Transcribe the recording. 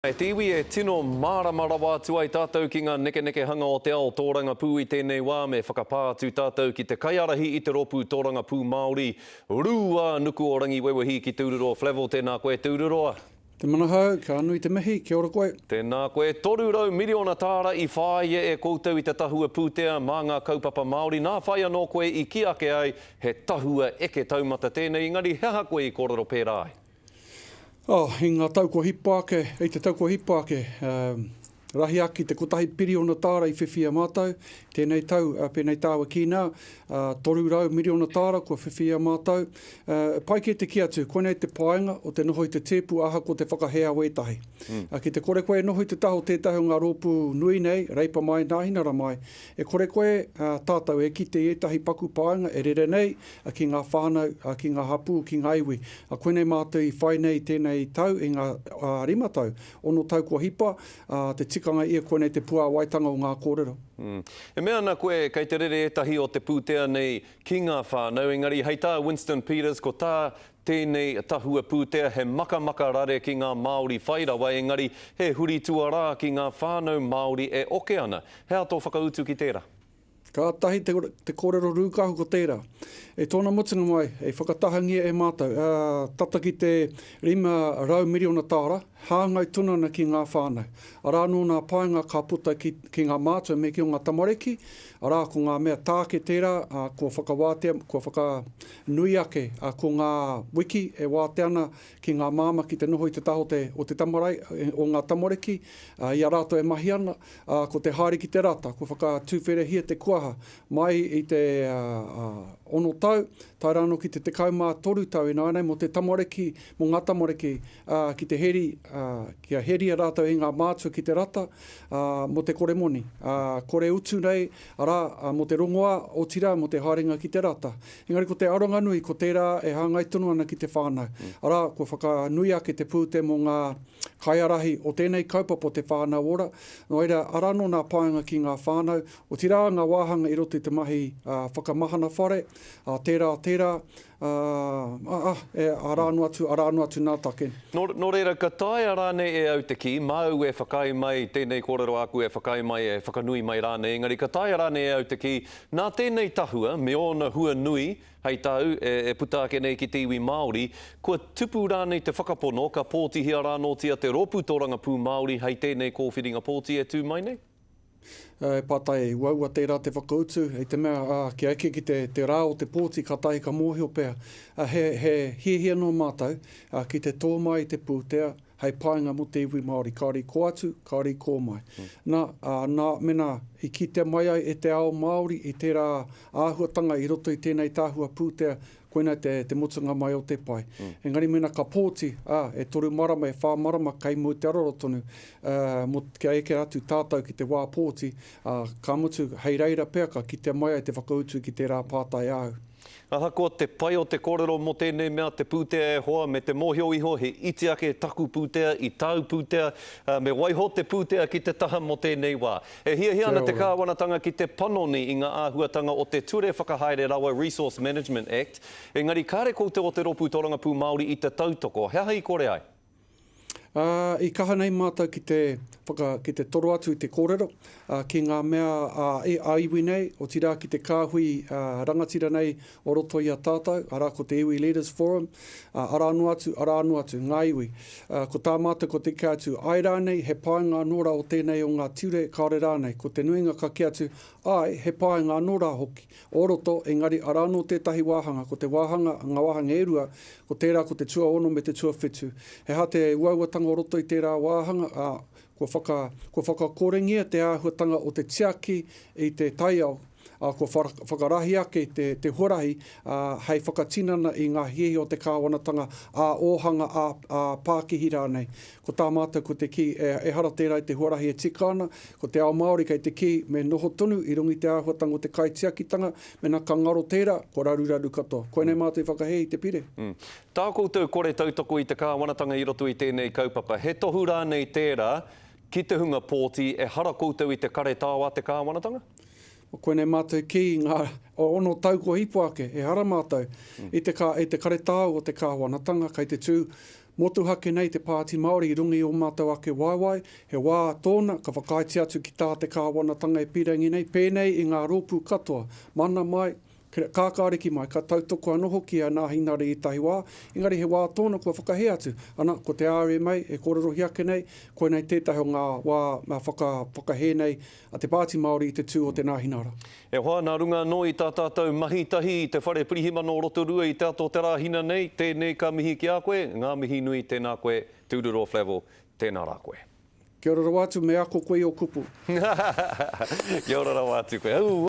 Kei te iwi e tino mārama rawa atu ai tātou ki ngā nekenekehanga o te ao tōrangapū i tēnei wā me whakapā atu tātou ki te kaiārahi i te rōpū tōrangapū Māori Rūā Nuku o Rangiwewehi ki Tūruroa Flavell Tēnā koe Tūruroa. Te manahau, ka nui te mihi, kia ora koe. Tēnā koe. Toru rau miriona tāra i whāia e koutou i te tahua pūtea mā ngā kaupapa Māori, nā whai anō koe i kī ake ai he tahua eke taumata tēnei, engari he aha koe i kōrero pērā ai? Oh, i ngā tau kua hipa ake, i te tau kua hipa ake, rahi aki te kotahi piriona tāra i whiwhia mātou, tēnei tau, pēnei tāua kī nā, toru rau miriona tāra kua whiwhia mātou, pai kē te kī atu, koinei te painga o te noho i te tēpu ahakoa te whakahea o ētahi. Ki te kore koe e noho i te taha o tētahi o ngā rōpū nui nei, Reipa mai, Nāhinara mai, e kore koe, tātou e kite i ētahi paku painga e rere nei, ki ngā whānau, ki ngā hapū, ki ngā iwi. Koinei mātou i whai nei tēnei tau i ngā rima tau, ono tau kua hipa, te tikanga ia koinei te puāwaitanga o ngā kōrero. E mea ana koe kei te rere ētahi o te pūtea nei ki ngā whānau, engari hei tā Winston Peters ko tā tēnei tahua pūtea he makamaka rare ki ngā Māori whai rawa engari he huri tuarā ki ngā whānau Māori e oke ana. He aha tō whakautu ki tērā? Kātahi te kōrero rūkahu ko tērā. I tōna mutunga mai, i whakatahangia e mātou, ā, tata ki te 500 miriona tāra, hāngai tonu ana ki ngā whānau. Arā anō ngā painga ka puta ki, ki ngā mātua me ki o ngā tamariki, arā, ko ngā mea tāke tērā, ā, kua whakawātea, kua whaka, nui ake, ā, ko ngā wiki e wātea ana ki ngā māmā ki te noho i te taha o te, o te tamarai, o ngā tamariki, ā, i a rātou e mahi ana, Ā, ko te haere ki te rata, kua whakatuwherehia te kuaha, mai i te ono tau, tae rānō ki te tekau mā toru tau ināianei mō te tamariki, mō ngā tamariki, ā, ki te heri, ā, kia heria rātou e ngā mātua ki te rata, ā, mō te kore moni, ā, kore utu nei, arā, mō te rongoā, otirā, mō te haerenga ki te rata. Engari ko te aronga nui, ko tērā e hāngai tonu ana ki te whānau, arā, kua whakanui ake te pūtea mō ngā. Kaiārahi, o tēnei kaupapa o te whānau ora, nō reira, arā anō nā pānga ki ngā whānau, otirā ngā wāhanga i roto i te mahi whakamahana whare, tērā, tērā, arā anō atu, arā anō atu nā take. Nō reira, ka taea rānei e au te kī, māu e whakaae mai, tēnei kōrero āku e whakaae mai, e whakanui mai rānei, engari ka taea rānei e au te kī, nā tēnei tahua me ōna hua nui, Hei tā au, e puta ake nei ki te iwi Māori, kua tupu rānei te whakapono, ka pōtihia rānōtia te rōpū tōrangapū Māori hei tēnei kōwhiringa pōti e tū mai nei? He pātai uaua tērā te whakautu, i te mea, ā, kia eke ki te rā o te pōti, kātahi ka mōhio pea, he hiahia noa mātou ki te tō mai i te pūtea, hei painga mō te iwi Māori, kāore i kō atu, kāore i kō mai. Nā, ā, nā, mēnā i kitea mai ai e te ao Māori i tērā āhuatanga i roto i tēnei tahua pūtea, koinā te, te mutunga mai o te pai. Engari mēnā ka pōti, ā, e toru marama, e whā marama kei mua i te aroro tonu, ā, mō, kia eke atu tātou ki te wā pōti, ā, ka mutu, hei reira pea ka kitea mai ai te whakautu ki tērā pātai āu. Ahakoa te pai o te kōrero mō tēnei mea te pūtea e hoa me te mōhio iho he iti ake taku pūtea i tāu pūtea, ā, me waiho te pūtea ki te taha mō tēnei wā. E hiahia ana te Kāwanatanga ki te panoni i ngā āhuatanga o te Ture Whakahaere Rawa Resource Management Act, engari kāre koutou o te Rōpū Tōrangapū Māori i te tautoko. He aha i kore ai? Ā, i kaha nei mātou ki te whaka, ki te toro atu i te kōrero, ā, ki ngā mea ā, e, ā iwi nei, otirā ki te kāhui, ā, rangatira nei o roto i a tātou, arā, ko te Iwi Leaders Forum, ā, arā noa atu, arā noa atu, ngā iwi. Ā, ko tā mātou ko te eke atu, āe rānei, he painga anō rā o tēnei o ngā ture, kāore rānei, ko te nuinga ka kī atu, āe, he painga anō rā hoki, o roto, engari arā anō tētahi wāhanga, ko te wāhanga, ngā wāhanga e rua, ko tērā ko te tuaono me te tuawhitu. He aha te uauatanga o roto i tērā wāhanga, ā, kua whaka, kua whakakorengia te āhuatanga o te tiaki i te taiao, ā, kua whakarahi ake te, te huarahi, ā, hei whakatinana i ngā hiahia o te kāwanatanga ā-ōhanga, ā, ā-pākihi rānei. Ko tā mātou ko te kī, ehara tērā i te huarahi e tika ana, ko te ao Māori kei te kī, me noho tonu i runga i te āhuatanga o te kaitiakitanga, mena ka ngaro tērā, kua raruraru katoa. Koinei mātou i whakahē i te pire. Tā koutou kore tautoko i te Kāwanatanga i roto i tēnei kaupapa, he tohu rānei tērā ki te hunga pōti, ehara koutou i te karetao a te Kāwanatanga? Koinei mātou i kī, ngā ono tau kua hipa ake, ehara mātou i te karetao o te Kāwanatanga, kei te tū Motuhake nei te Pāti Māori i runga i ō mātou ake waewae, he wā tōna ka whakaaetia atu ki tā te kāwanatanga e pīrangi nei, pēnei i ngā rōpū katoa, mana mai, kākāriki mai, ka tautoko anō hoki e ana ahinari i tahi wā, engari he wā tōna kua whakahē atu, ana, ko te RMA e kōrerohia ake nei, koinei tētahi o ngā wā whakahē nei, A Te Pāti Māori i te tū o Te Nāhinara. E hoa, nā runga anō i tā tātou mahi tahi i te Whare Pirihimana o Rotorua i te ato o te rā hina nei, tēnei ka mihi ki a koe, ngā mihi nui, tēnā koe, tūroro Flavell, tēnā rā koe. Kia ora rawa atu, me ako koe i o kupu. Kia ora rawa atu koe. Aua!